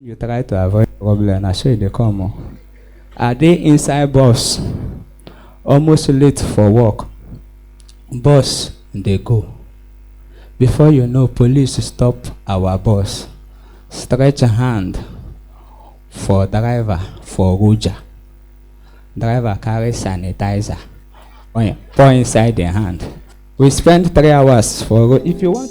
You try to avoid problem, na so e dey come o. I dey inside bus, almost late for work, bus dey go. Before you know, police stop our bus, stretch hand for driver for Ruja. Driver carry sanitizer, oin, pour inside im hand. We spend three hours for road. If you want.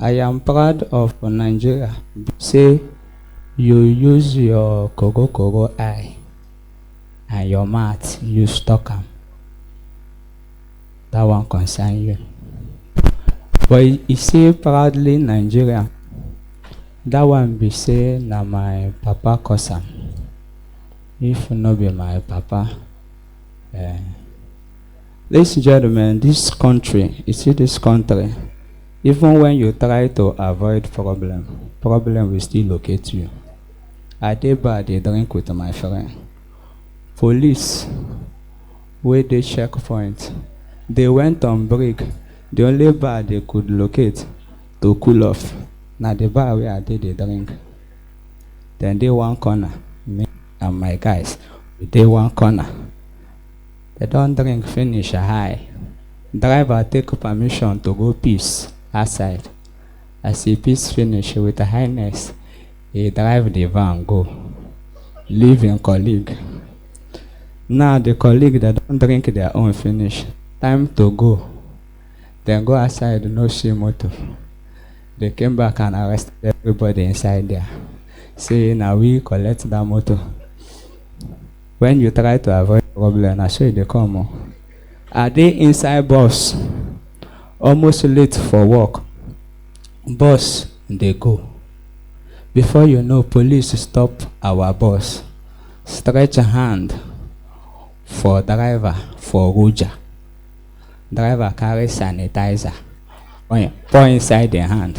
I am proud of Nigeria say you use your koro koro eye and your mouth use talk am. That one concern you. But you say proudly Nigerian, that one be say na my papa cause am. If no be my papa, eh, Ladies and gentlemen, this country, you see this country, even when you try to avoid problem, problem will still locate you. I dey bar dey drink with my friend. Police wey dey checkpoint, they went on break. The only bar they could locate to cool off na the bar wey I dey dey drink. Dem dey one corner, me and my guys, we dey one corner. Dem don drink finish I Driver take permission to go piss outside As e piss finish with highness E drive the van go Leave im colleague Now the colleague dem don drink their own finish Time to go Dem go outside no see motor They came back and arrested everybody inside there Say na we collect that motor when you try to avoid problem na so e dey come o i dey inside bus almost late for work bus dey go before you know police stop our bus stretch hand for driver for roja driver carry sanitizer pour inside im hand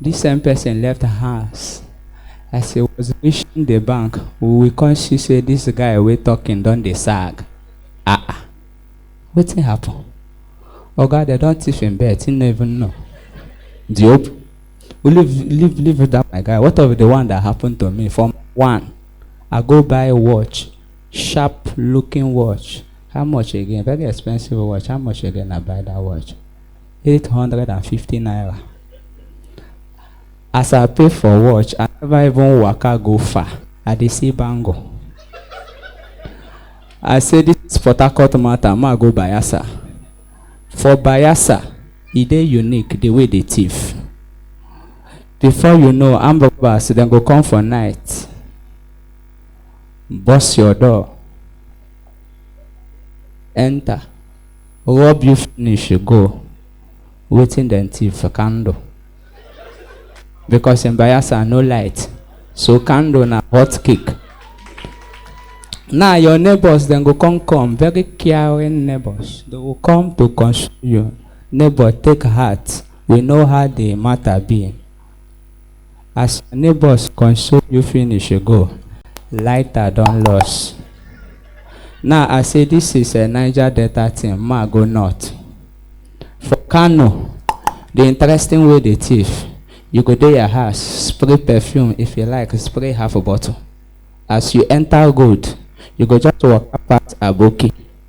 This same person left house as he was reaching the bank we come see say this guy wey talking don dey sag ah ah wetin happen oga dem don thief him bet he no even know the hope leave leave leave that my guy what of the one that happened to me from one i go buy watch sharp looking watch how much again very expensive watch how much again i buy that watch eight hundred and fifty naira as i pay for watch i never even waka go far i dey see bangle i say this is port harcourt matter ma go bayelsa for bayelsa e dey unique the way they thief before you know armed robbers dem go come for night burst your door enter Rob you finish you go. Wetin dem thief for candle? Because in Bayelsa no light, so candle na hot cake. Now your neighbors dem go come come, very caring neighbors. They go come to console you. Neighbor take heart, we know how the matter be. As your neighbors console you finish you go, lighter don loss. Now I say this is a Niger Delta thing, ma go north. For Kano, the interesting way they thief, you go dey your house, spray perfume if you like, spray half a bottle. As you enter good, you go just walk past Aboki.